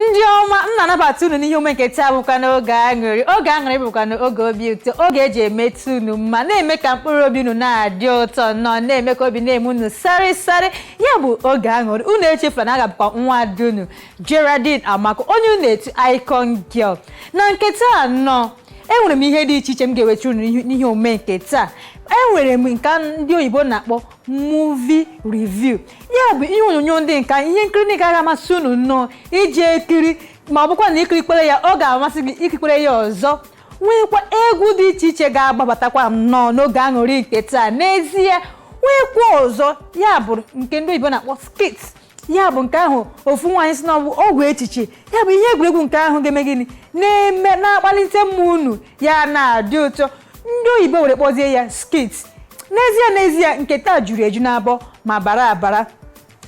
ndị ọma m na-anabata unu n'ihe omume nke taa bụkwa n'oge aṅụrị oge aṅụrị bụkwa n'oge obi ụtọ oge eji emetụ unu mma na-eme ka mkpụrụ obi unu na-adị ụtọ nnọọ na-eme ka obi na-eme unu sarị sarị ya bụ oge aṅụrị unu echefula na a ka bụkwa nwa ada unu Geraldine Amaka onye unu etu Icon Girl na nke taa nnọọ enwere m ihe dị iche iche m ga-ewetara unu n'ihe- n'ihe omume nke taa enwere m nke ndị oyibo na-akpọ movie review ya bụ ihe onyonyo ndị nke a ihe nkiri ndị nke ga-amasị unu nnọọ iji ekiri ma ọ bụkwa na ikirikwere ya ọ ga-amasị gị ikirikwere ya ọzọ nweekwa egwu dị iche iche ga-agbabatakwa nnọọ n'oge aṅụrị nke taa n'ezie nweekwa ọzọ ya bụ nke ndị oyibo na-akpọ skit ya bụ nke ahụ ofu nwaanyị sị na ọ bụ ọgwụ echiche ya bụ ihe egwuregwu nke ahụ ga-eme gịnị na-eme na-akpalite mmụọ unu ya na-adị ụtọ ndị oyibo were kpọzie ya skit n'ezie n'ezie nke taa juru eju n'abọ ma bara abara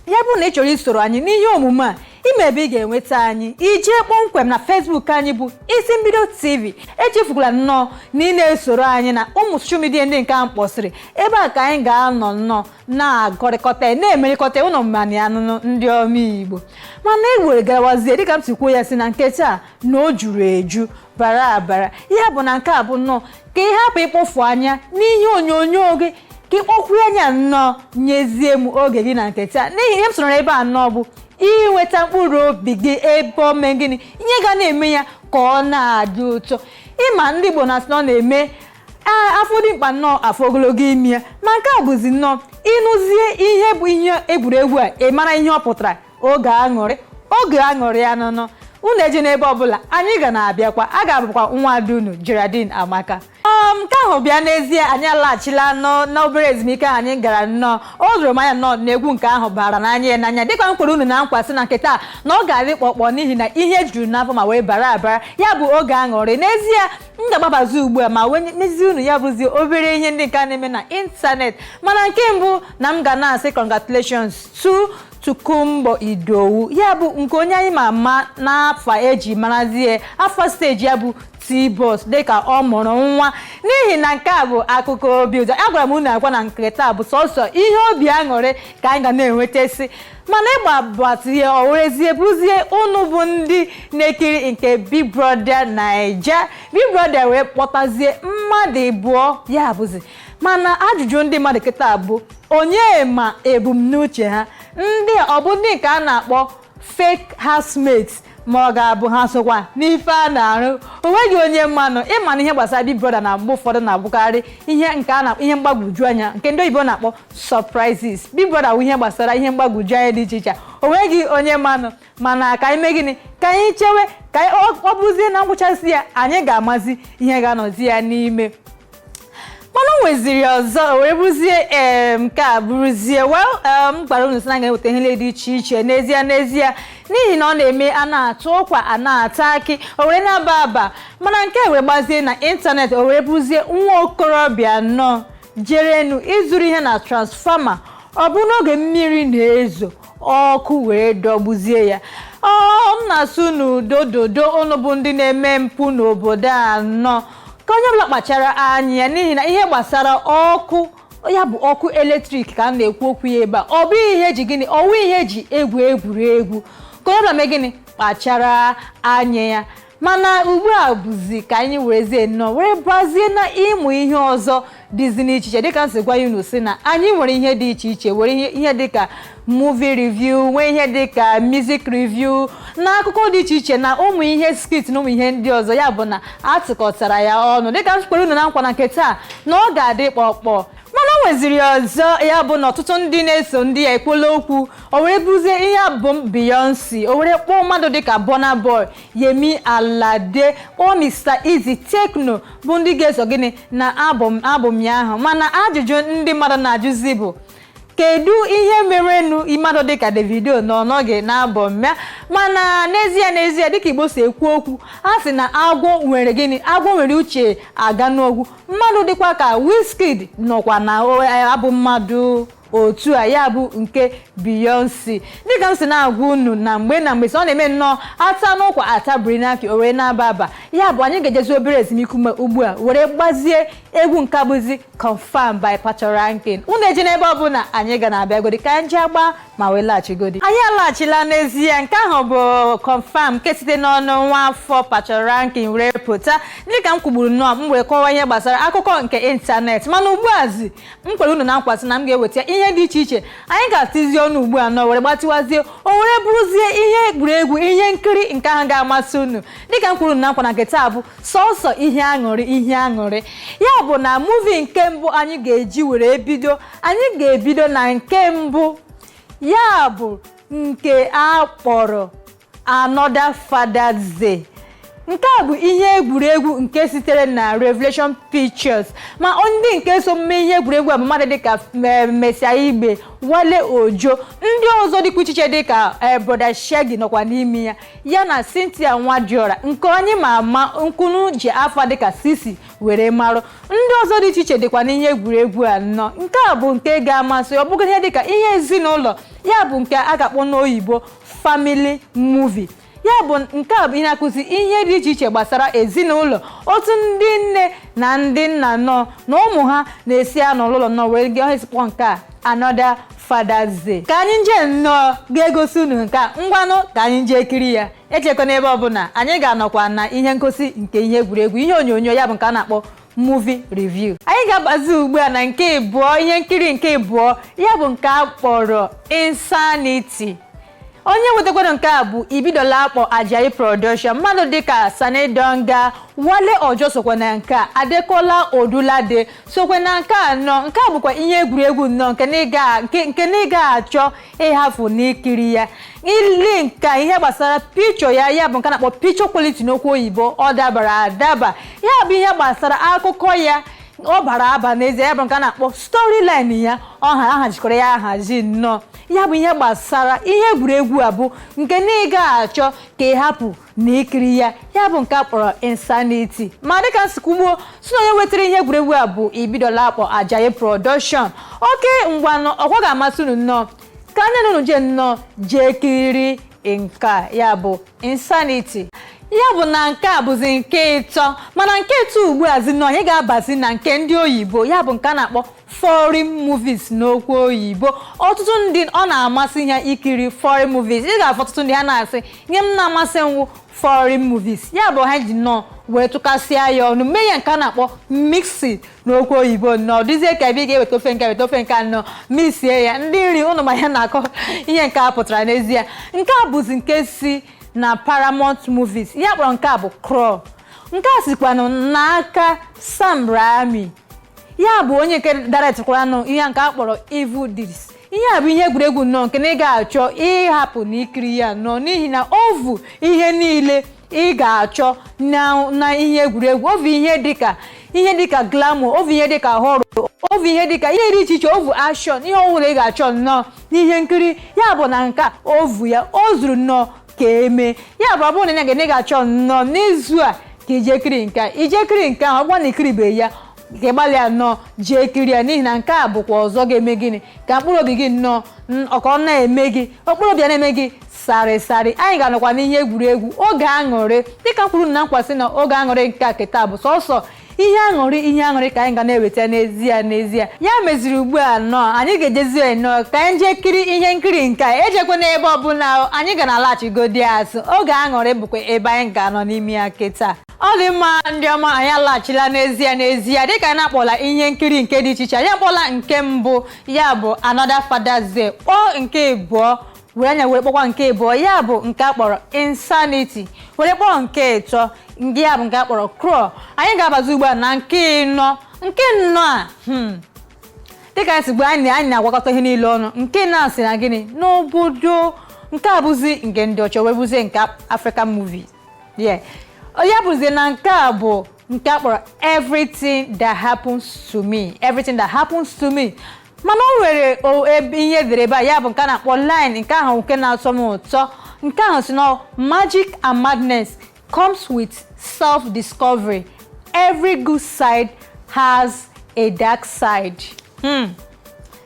ya bụrụ na ị chọrọ isoro anyị n'ihe omume a ị ma ebe ị ga-enweta anyị i jee kpọmkwem na Facebook anyị bụ Isi Mbido TV echefukwala nnọọ na ị na-esoro anyị na ụmụ soshal midia ndị nke a m kpọsịrị ebe a ka anyị ga-anọ nnọọ na-akọrịkọta na-emerịkọta ụlọ mmanya anụnụ ndị ọma Igbo mana ewere garawazie dịka m si kwuo ya si na nke taa na o juru eju bara abara ya bụ na nke a bụ nnọọ ka ị hapụ ịkpọfu anya n'ihe onyonyo gị ka ị kpọkwuo anya nnọọ nyezie m oge gị na nke taa n'ihi ihe m chọrọ ebe a nnọọ bụ inweta mkpụrụ obi gị ebe ọ mee gịnị ihe ga na-eme ya ka ọ na-adị ụtọ ị ma ndị Igbo na-asị na ọ na-eme ee a fụ dimkpa nnọọ a fụ ogologo imi ya ma nke a bụzi nnọọ ịnụzie ihe bụ ihe egwuregwu a ị mara ihe ọ pụtara oge aṅụrị oge aṅụrị ya nụnụ unu ejena ebe ọbụla anyị ga na-abịakwa a ka bụkwa nwa ada unu Geraldine Amaka um, nke ahụ bịa n'ezie anyị alaghachila nnọọ n'obere ezumike ahụ anyị gara nnọọ o doro m anya nnọọ na egwu nke ahụ bara n'anya ya n'anya dịka m kwere unu na nkwa sị na nke taa na ọ ga-adị kpọkpọ n'ihi na ihe juru n'abọ ma wee bara abara ya bụ oge aṅụrị n'ezie m ga-agbabazi ugbu a ma wee mezie unu ya bụzi obere ihe ndị nke a na-eme na ịntanet mana nke mbụ na m ga na-asị congratulations to Tokunbo Idowu ya bụ nke onye anyị ma ama n'afa eji marazie afa steji ya bụ T-Boss dịka ọ mụrụ nwa n'ihi na nke a bụ akụkọ obi ụtọ agwara m unu agwa na nke taa bụ sọsọ ihe obi aṅụrị ka anyị ga na-enwetasị mana ịgbabazie o werezie bụrụzie unu bụ ndị na-ekiri nke Big Brother Naija Big Brother wee kpọtazie mmadụ ịbụọ ya bụzi mana ajụjụ ndị mmadụ kịta bụ onye ma ebumnuche ha ndị a ọ bụ ndị nke a na-akpọ fake housemates ma ọ ga-abụ ha sokwa n'ife a na-arụ onweghị onye manụ ịma na ihe gbasara Big Brother na mgbe ụfọdụ na-abụkarị ihe nke a na ihe mgbagwoju anya nke ndị oyibo na-akpọ surprises Big Brother bụ ihe gbasara ihe mgbagwoju anya dị iche iche onweghị onye manụ mana ka anyị mee gịnị ka anyị chewe ka ọ bụzie na ngwụchasị ya anyị ga-amazi ihe ga-anọzi ya n'ime mana o nweziri ọzọ wee bụrụzie ee nke a bụrụzie well m gwara unu sị na ga-eweta ihe niile dị iche iche n'ezie n'ezie n'ihi na ọ na-eme a na-ata ụkwa a na-ata akị o were na-aba aba mana nke a were gbazie na ịntanetị o were bụrụzie nwa okorobịa nnọọ jerenu izuru ihe na transfọma ọ bụ n'oge mmiri na-ezo ọkụ wee dọgbuzie ya ọ m na-asị unu doo doo unu bụ ndị na-eme mpụ n'obodo a nnọọ ka onye ọbụla kpachara anya ya n'ihi na ihe gbasara ọkụ ya bụ ọkụ eletrik ka a na-ekwu okwu ya ebe a ọ bụ ihe eji gịnị ọwụ ihe eji egwu egwuregwu ka onye ọbụla mee gịnị kpachara anya ya mana ugbu a bụzi ka anyị werezie nnọọ were bazie na ụmụ ihe ọzọ dịzi n'iche iche dịka m si gwa unu si na anyị nwere ihe dị iche iche nwee ihe ihe dịka movie review nwee ihe dịka music review na akụkọ dị iche iche na ụmụ ihe skit na ụmụ ihe ndị ọzọ ya bụ na atụkọtara ya ọnụ dịka m kwere unu na nkwa na nke taa na ọ ga-adị kpọkpọ mana o nweziri ọzọ ya bụ na ọtụtụ ndị na-eso ndị ya ekwuola okwu o were bụzie ihe album Beyonce o were kpọọ mmadụ dịka Burna Boy Yemi Alade kpọọ Mr Eazi Tekno bụ ndị ga-eso gịnị na album album ya ahụ mana ajụjụ ndị mmadụ na-ajụzi bụ kedu ihe merenụ mmadụ dịka Davido na ọ nọghị n'album ya mana n'ezie n'ezie dịka Igbo si ekwu okwu a sị na agwọ nwere gịnị agwọ nwere uche aga n'ogwu mmadụ dịkwa ka Wizkid nọkwa na album a dị otu a ya bụ nke Beyonce dịka m si na-agwa unu na mgbe na mgbe sị ọ na-eme nnọọ a ta n'ụkwa a tabiri n'akị o wee na-aba aba ya bụ anyị ga-ejezi obere ezumike ume ugbu a were gbazie egwu nke bụzi Confirm by Patoranking unu ejena ebe ọ bụla anyị ga na-abịagodi ka anyị ji agba ma wee laghachigodi anyị alaghachila n'ezie nke ahụ bụ Confirm nke site n'ọnụ nwa afọ Patoranking were pụta dịka m kwugburu nnọọ m wee kọwa ihe gbasara akụkọ nke ịntanetị mana ugbu azi m kwere unu na nkwa sị na m ga-eweta ihe dị iche iche anyị ga-atizi ọnụ ugbu a nnọọ were gbatịwazie o were bụrụzie ihe egwuregwu ihe nkiri nke ahụ ga-amasị unu dịka m kwere unu na nkwa na nke taa bụ sọsọ ihe aṅụrị ihe aṅụrị ya bụ na muvi nke mbụ anyị ga-eji were bido anyị ga-ebido na nke mbụ ya bụ nke a kpọrọ Another Father's Day nke a bụ ihe egwuregwu nke sitere na Revelation Pictures ma ndị nke so mme ihe egwuregwu a bụ mmadụ dịka eh, Mercy Aigbe Wale Ojo ndị ọzọ dịkwa iche iche dịka eh, Broda Shaggi nọkwa n'ime ya ya na Cynthia Nwadiora nke onye ma ama nke unu ji afa dịka Cee-C were marụ ndị ọzọ dị iche iche dịkwa n'ihe egwuregwu a nnọọ nke a bụ nke ga-amasị ọ bụghị ihe dịka ihe ezinụlọ ya bụ nke a ga-akpọ n'oyibo family movie ya bụ nke a bụ ihe na-akụzi ihe dị iche iche gbasara ezinụlọ otu ndị nne na ndị nna nnọọ na ụmụ ha na-esi anọ n'ụlọ nnọọ wee gị ọhịa sikpọ nke a Another Father's Day ka anyị nje nnọọ ga-egosi unu nke a ngwanụ ka anyị nje kiri ya ejekwana ebe ọbụla anyị ga-anọkwa na ihe ngosi nke ihe egwuregwu ihe onyonyo ya bụ nke a na-akpọ movie review anyị ga-abazi ugbu a na nke ịbụọ ihe nkiri nke ịbụọ ya bụ nke a kpọrọ insanity onye wetakwara nke a bụ Ibidolapo Ajayi production mmadụ dịka Sani Danja Wale Ojo sokwa na nke a Adekola Odunlade sokwa na nke a nnọọ nke a bụkwa ihe egwuregwu nnọọ nke na ịga- nke- nke na ịga achọ ịhafụ n'ikiri ya i lee nke ihe gbasara picture ya ya bụ nke na-akpọ picture quality n'okwu oyibo ọ dabara adaba ya bụ ihe gbasara akụkọ ya ọ bara aba n'ezie ya bụ nke a na-akpọ storyline ya a hazikọrọ ya ahazi nnọọ ya bụ ihe gbasara ihe egwuregwu a bụ nke na ị ga-achọ ka ị hapụ na ikiri ya ya bụ nke a kpọrọ insanity ma dịka m si kwuo gboo sị na onye wetara ihe egwuregwu a bụ Ibidolapo Ajayi production okay ngwanụ ọkwa ga-amasị unu nnọọ ka anyị na unu jee nnọọ jee kiri nke a ya bụ insanity ya bụ na nke a bụzi nke ịtọ mana nke ịtọ ugbu a zi na anyị ga-abazi na nke ndị oyibo ya bụ nke a na-akpọ foreign movies n'okwu oyibo ọtụtụ ndị ọ na-amasị ha ikiri foreign movies ị ga-afụ ọtụtụ ndị ha na-asị na ihe na-amasị m wụ foreign movies ya bụ ha ji nnọọ wee tụkasịa ya ọnụ mee ya nke a na-akpọ mix n'okwu oyibo nnọọ dịzie ka ebe ị ga-eweta ofe nke a weta ofe nke a nnọọ mixie ya ndị nri unu ma ihe a na-akọ ihe nke a pụtara n'ezie nke a bụzi nke si na Paramount Movies ihe a kpọrọ nke a bụ Crawl nke a sikwanụ n'aka Sam Raimi ya bụ onye nke directịkwaranụ ihe nke a kpọrọ evil deeds ihe a bụ ihe egwuregwu nnọọ nke na ị ga-achọ ịhapụ na ikiri ya nnọọ n'ihi na ọ bụ ihe niile ị ga-achọ na na ihe egwuregwu ọ bụ ihe dịka ihe dịka glamour ọ bụ ihe dịka horror ọ bụ ihe dịka ihe dị iche iche ọ bụ action ihe ọbụla ị ga-achọ nnọọ n'ihe nkiri ya bụ na nke a ọ bụ ya o zuru nnọọ ka eme ya bụ ọ bụrụ na ya ga na ị ga-achọ nnọọ n'izu a ka i jee kiri nke a i jee kiri nke ahụ ọgwa na i kiribeghị ya ka ị gbalịa nnọọ jee kiri ya n'ihi na nke a bụkwa ọzọ ga-eme gịnị ka mkpụrụ obi gị nnọọ n- ọ ka ọ na-eme gị mkpụrụ obi ya na-eme gị sarị sarị anyị ga-anọkwa n'ihe egwuregwu oge aṅụrị dịka m kwere unu na nkwa sị na oge aṅụrị nke a kịta bụ sọsọ ihe aṅụrị ihe aṅụrị ka anyị ga na-eweta n'ezie n'ezie ya meziri ugbu a nnọọ anyị ga-ejezi nnọọ ka anyị jee kiri ihe nkiri nke a ejekwana ebe ọbụla anyị ga na-alaghachigodi azụ oge aṅụrị bụkwa ebe anyị ga-anọ n'ime ya kịta ọ dị mma ndị ọma anyị alaghachila n'ezie n'ezie dịka anyị na-akpọla ihe nkiri nke dị iche iche anyị akpọla nke mbụ ya bụ Another Father's Day kpọọ nke ịbụọ were anyị were kpọkwa nke ịbụọ ya bụ nke a kpọrọ insanity were kpọọ nke ịtọ ndị ya bụ nke a kpọrọ Crawl anyị ga-abazi ugbu a na nke ịnọ nke ịnọ a hmm, dịka anyị si gwa anyị anyị na-agwakọta ihe niile ọnụ nke ịnọ a si na gịnị n'obodo nke a bụzi nke ndị ọcha wee bụzie nke African movie yeah ya bụzi na nke a bụ nke a kpọrọ everything that happens to me everything that happens to me mana o nwere o- ebe ihe e dere ebe a ya bụ nke a na-akpọ line nke ahụ nke na-atọ m ụtọ nke ahụ sị na magic and madness comes with self discovery every good side has a dark side hmm.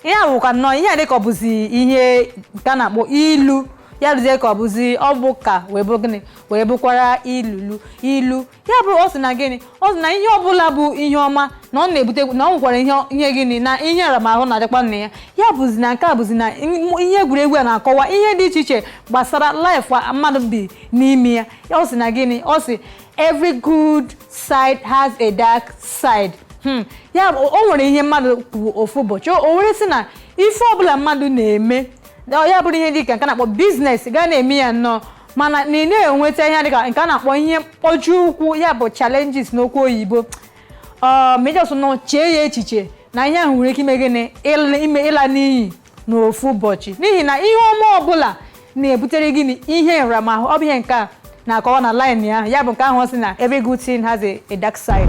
ihe a bụkwa nnọọ ihe a dịka ọ bụzi ihe nke a na-akpọ ilu ya dịzie ka ọ bụzi ọ bụ ụka wee bụ gịnị wee bụkwara ilulu ilu ya bụrụ ọ sị na gịnị ọ sị na ihe ọbụla bụ ihe ọma na ọ na-ebute na ọ nwekwara ihe ihe gịnị na ihe nramahụ na-adịkwa na ya ya bụzi na nke a bụzi na m- ihe egwuregwu a na-akọwa ihe dị iche iche gbasara life mmadụ bi n'ime ya ọ sị na gịnị ọ sị every good side has a dark side Hmm, ya bụ o nwere ihe mmadụ kwuru ofu ụbọchị o were sị na ife ọbụla mmadụ na-eme na ya bụrụ ihe dị ka nke a na-akpọ business ga na-eme ya nnọọ mana na ị na-enweta ihe dịka nke a na-akpọ ihe mkpọbi ụkwụ ya bụ challenges n'okwu oyibo ma ị just nọ chee ya echiche na ihe ahụ nwere ike ime gịnị ịla- ime ịla n'iyi n'ofu ụbọchị n'ihi na ihe ọma ọbụla na-ebutere gịnị ihe nramahụ ọ bụ ihe nke a na-akọwa na line ahụ ya bụ nke ahụ ọ sị na every good thing has a, a dark side